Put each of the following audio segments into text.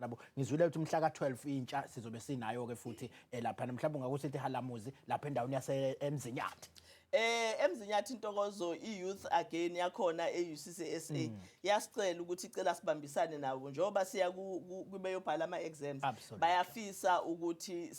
Yabo ngizwile ukuthi umhla ka-12 intsha sizobe sinayo ke futhi eh, lapha mhlawumbe ungakusithi halamuzi lapha endaweni yase emzinyathi eh emzinyathi intokozo i-youth again yakhona e-UCCSA mm. yasicela ukuthi icela sibambisane nabo njengoba siya kubeyobhala ama-exams bayafisa ukuthi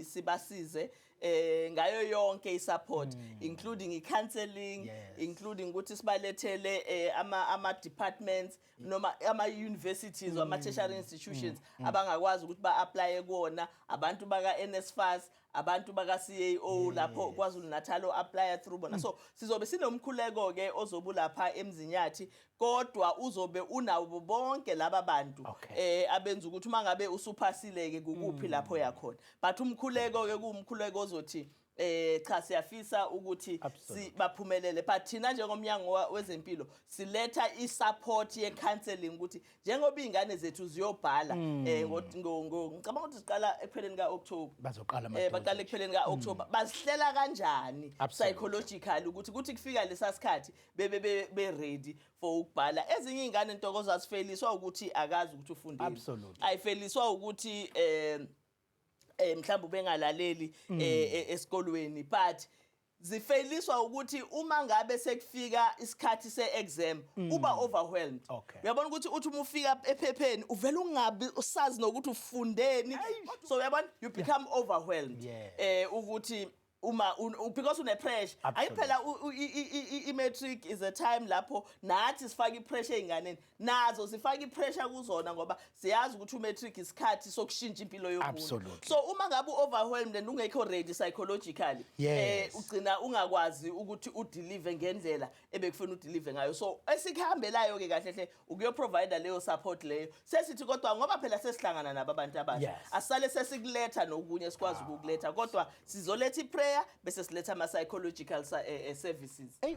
sibasize eh ngayo yonke isupport mm. including i-counseling yes. including ukuthi sibalethele eh, ama-departments noma ama-universities mm. ama-tertiary mm. institutions mm. abangakwazi ukuthi ba-aplaye kuwona abantu baka-nsfas abantu baka-cao lapho kwazulu-natal o-aplaya through bona so sizobe sinomkhuleko-ke ozobe ulapha emzinyathi kodwa uzobe unabo bonke laba bantu um abenza ukuthi uma ngabe usuphasile-ke kukuphi lapho yakhona but umkhuleko-ke kuwumkhuleko ozothi eh cha siyafisa ukuthi sibaphumelele but thina njengomnyango wezempilo siletha isupport ye counseling ukuthi njengoba izingane zethu ziyobhala hmm. eh ngicabanga ukuthi siqala ekupheleni ka October bazoqala eh baqala ekupheleni ka hmm. October bazihlela kanjani psychological ukuthi kuthi kufika lesasikhathi bebe be ready for ukubhala ezinye izingane intokozo asifeliswa ukuthi akazi ukuthi ufundile ayifeliswa ukuthi eh eh mhlawumbe bengalaleli mm. eh, eh, esikolweni but zifailiswa ukuthi uma ngabe sekufika isikhathi seexam mm. uba overwhelmed okay. uyabona ukuthi uthi uma ufika ephepheni uvela ungabi usazi nokuthi ufundeni so uyabona you become yeah. overwhelmed yeah. eh ukuthi uma because une pressure ayiphela i matric is a time lapho nathi sifaka i pressure einganeni nazo zifaka i pressure kuzona ngoba siyazi ukuthi u matric isikhathi sokushintsha impilo yomuntu so uma ngabe u overwhelmed and ungekho ready psychologically eh ugcina ungakwazi ukuthi u deliver ngendlela ebekufuna udelive ngayo so esikhambelayo ke kahle hle ukuyo provider leyo support leyo sesithi kodwa ngoba phela sesihlangana nabo abantu abasha yes. asale sesikuletha nokunye sikwazi ah. ukukuletha kodwa sizoletha iprayer bese siletha ama psychological uh, eh, eh, services hey.